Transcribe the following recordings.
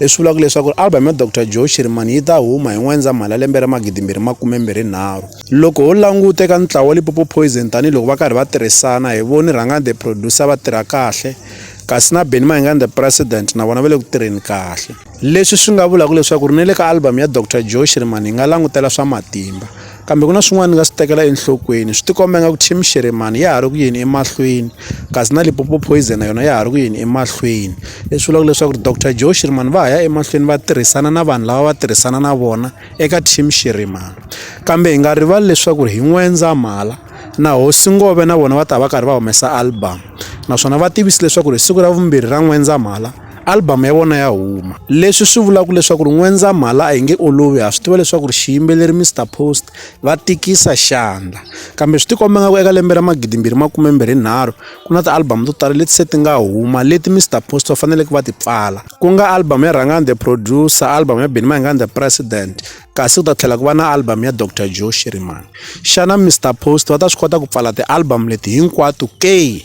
leswi vulaka leswaku album ya Dr Joe Shirimani yi ta huma hi N'wendzamhala lembe ra 2023. Loko ho languta eka ntlawa wa Limpopo Poison tanihi loko va karhi va tirhisana hi voni Rhangani the Producer va tirha kahle kasi na Benny Mayengani the President na vona va le ku tirheni kahle. Leswi swi nga vulaka leswaku ri ni le ka album ya Dr Joe Shirimani hi nga langutela swa matimba. Kambe ku na swin'wana ni nga swi tekela enhlokweni swi tikomba nga ku team xiremani ya ha ri ku yini emahlweni kasi na lipopo poison yona ya ha ri ku yini emahlweni leswi vulaka leswaku ri dr joe xiremani va ha ya emahlweni va tirhisana na vanhu lava va tirhisana na vona eka team xiremani kambe hi nga rivali leswaku ri hi n'wendzamhala na hosi ngove na vona va ta va karhi va humesa album naswona va tivise leswaku ri siku ra vumbirhi ra n'wendzamhala Album ya vona ya huma leswi swi vulaka leswaku ri N'wendzamhala a yi nge olovi ha swi tiva leswaku ri xiyimbeleri Mr Post va tikisa xandla kambe swi tikomba nga ku eka lembe ra magidimbirhi makumembirhi nharhu ku na ti-album to tala leti se ti nga huma leti Mr Post va faneleke va ti pfala ku nga album ya Rhangani the producer album ya Benny Mayengani the president kasi ku ta tlhela ku va na album ya Dr Joe Shirimani xana Mr Post va ta swi kota ku pfala ti-album leti hinkwato ke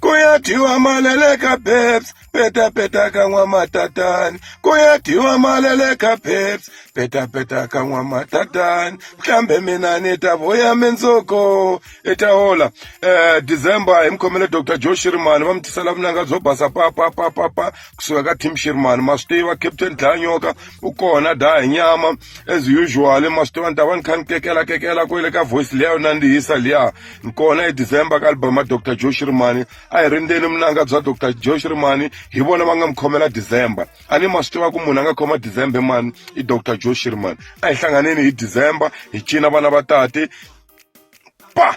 ku ya dyiwa malele ka babes petapeta ka n'wamatatani ku ya dyiwa malele ka babes petapeta ka n'wamatatani kambe mina ni ta vuya mindzuku i ta hola um december hi mukhomele dr joe shirimani va mi tisela vunanga byo basa papapapapa kusuka ka team shirimani ma swi tiva captain dlanyoka u kona daha nyama as usual ma swi tiva ni ta va ni kha ni kekela kekela kwele ka voice liya yo nandzihisa liya hi kona hi december ka album ya dr joe shirimani a hi rindzeni vunanga bya dr joe shirimani hi vona va nga mi khomela december a ni ma swi tiva ku munhu a nga khoma december mani i dr joe shirimani a hi hlanganeni hi december hi cina vana va tate pa